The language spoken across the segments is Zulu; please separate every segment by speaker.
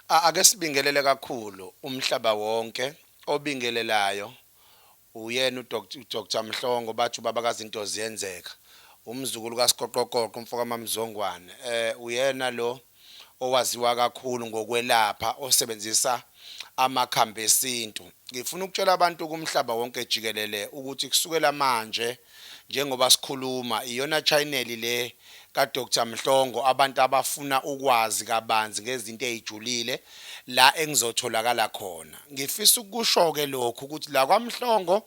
Speaker 1: Ake sibingelele kakhulu umhlaba wonke obingelelayo uyena uDr Mhlongo bathi ubaba kazinto ziyenzeka umzukulu kaSiqoqoqoqo umfokaMamzongwane eh uyena lo owaziwa kakhulu ngokwelapha osebenzisa amakhambi esintu ngifuna ukutshela abantu kumhlaba wonke jikelele ukuthi kusukela manje njengoba sikhuluma iyona channel le ka Doctor Mhlongo abantu abafuna ukwazi kabanzi ngezinto ezijulile la engizotholakala khona ngifisa ukusho ke lokhu ukuthi la kwaMhlongo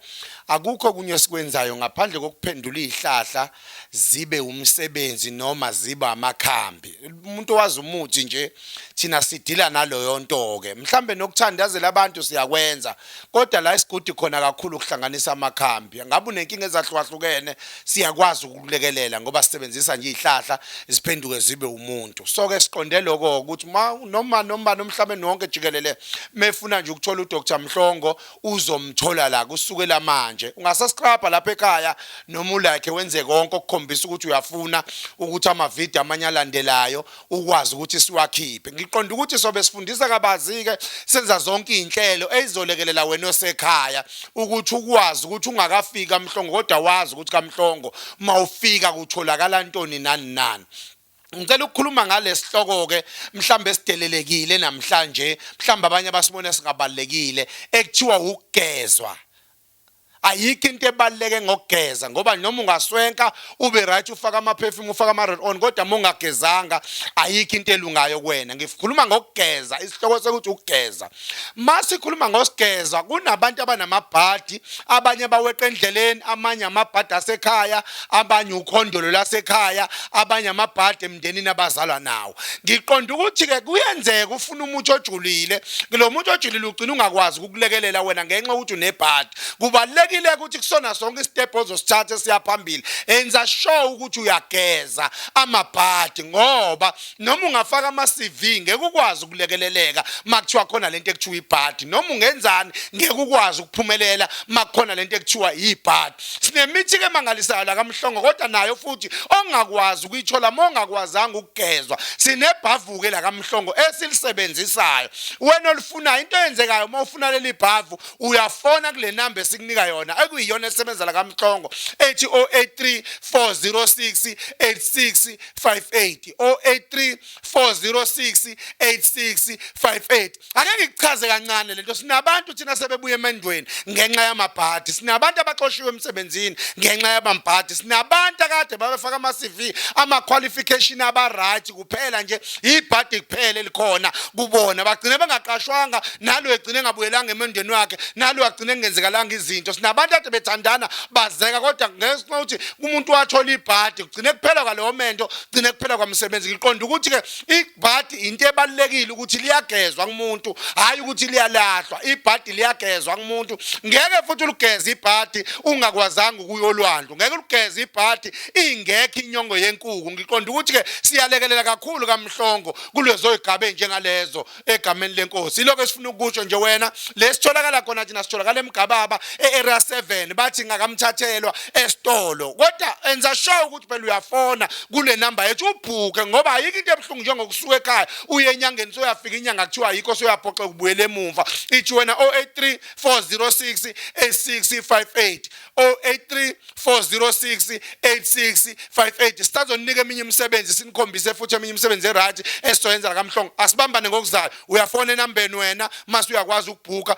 Speaker 1: akukho kunye sikwenzayo ngaphandle kokuphendula izihlahla zibe umsebenzi noma ziba amakhambi umuntu wazi umuthi nje thina sidila naloyo nto ke mhlambe nokuthandazela abantu siyakwenza kodwa la isigudi khona kakhulu ukuhlanganisa amakhambi ngabe unenkinga ezahlukahlukene siyakwazi ukukulekelela ngoba sisebenzisa nje izihlahla ziphenduke zibe umuntu so ke siqonde lokho ukuthi ma noma noma nomhlabeni wonke jikelele mefuna nje ukuthola uDr Mhlongo uzomthola la kusukela manje ungasascribe lapha ekhaya noma ulike wenze konke okukhombisa ukuthi uyafuna ukuthi ama video amanye alandelayo ukwazi ukuthi siwakhiphe ngiqonda ukuthi sobe sifundisa kabazike senza zonke izinhlelo ezizolekelela wena osekhaya ukuthi ukwazi ukuthi ungakafiki kamhlongo kodwa wazi ukuthi kamhlongo mawufika kutholakala ntoni nani nani Ngicela ukukhuluma ngalesihloko ke mhlambe sidelelekile namhlanje mhlambe abanye abasibona singabalekile ekuthiwa ukugezwa ayikho into ebaluleke ngokugeza ngoba noma ungaswenka ube right ufaka ama perfume ufaka ama roll on kodwa mungagezanga ayikho into elungayo kuwena ngikhuluma ngokugeza isihloko sokuthi ukugeza masikhuluma ngosigeza kunabantu abanamabhadi abanye baweqa endleleni amanye amabhadi asekhaya abanye ukhondolo lasekhaya abanye amabhadi emndenini abazalwa nawo ngiqonda ukuthi ke kuyenzeka ufuna umuthi ojulile lo muthi ojulile ugcina ungakwazi ukulekelela wena ngenxa ukuthi unebhadi kubalulekile ukuthi kusona sonke isitephu ozosithatha esiya phambili enza sure ukuthi uyageza amabhadi ngoba noma ungafaka ama-cv ngeke ukwazi ukulekeleleka uma kuthiwa khona le nto ekuthiwa ibhadi noma ungenzani ngeke ukwazi ukuphumelela uma kukhona le nto ekuthiwa yibhadi sinemithi-ke emangalisayo lakamhlongo kodwa nayo futhi ongakwazi ukuyithola uma ongakwazanga ukugezwa sinebhavuke lakamhlongo esilisebenzisayo wena olufunayo into eyenzekayo uma ufuna leli bhavu uyafona kule namba esikunika yona ekuyiyona esebenza la kamhlongo ethi 083 406 8658 083 406 8658 ake ngikuchaze kancane lento sinabantu thina sebebuya emendweni ngenxa yamabhadi sinabantu abaxoshiwe emsebenzini ngenxa yabambhadi sinabantu akade babefaka ama-cv ama-qualification aba-right kuphela nje ibhadi kuphela elikhona kubona bagcine bengaqashwanga nalo egcine engabuyelanga emendweni wakhe nalo agcine engenzekalanga izinto sinabantu ade bethandana bazeka kodwa ngesinxa ukuthi umuntu wathola ibhadi kugcine kuphela kwaleyo mento kugcine kuphela kwamsebenzi ngiqonda ukuthi-ke ibhadi into ebalulekile ukuthi liyagezwa kumuntu hhayi ukuthi liyalahlwa ibhadi liyagezwa kumuntu ngeke futhi ulugeze ibhadi ungakwazanga ukuyolwandwa ngeke ulugeze ibhadi ingekho inyongo yenkuku ngiqonda ukuthi ke siyalekelela kakhulu kamhlongo kulezo igaba njengalezo egameni lenkosi iloko esifuna ukusho nje wena lesitholakala khona thina sitholakala emgababa earea 7 bathi ngakamthathelwa esitolo kodwa enza sure ukuthi phela uyafona kule number yethu ubhuke ngoba ayikho into ebuhlungu njengokusuka ekhaya uye enyangeni soyafika inyanga kuthiwa ayikho soyaphoxa ukubuyela emumva ithi wena 083 406 8658 083 406 8658 sisazoninika eminye imisebenzi sinikhombise futhi eminye imisebenzi erathi esizoyenza la kamhlongo asibambane ngokuzayo uyafona enambeni wena mase uyakwazi ukubhuka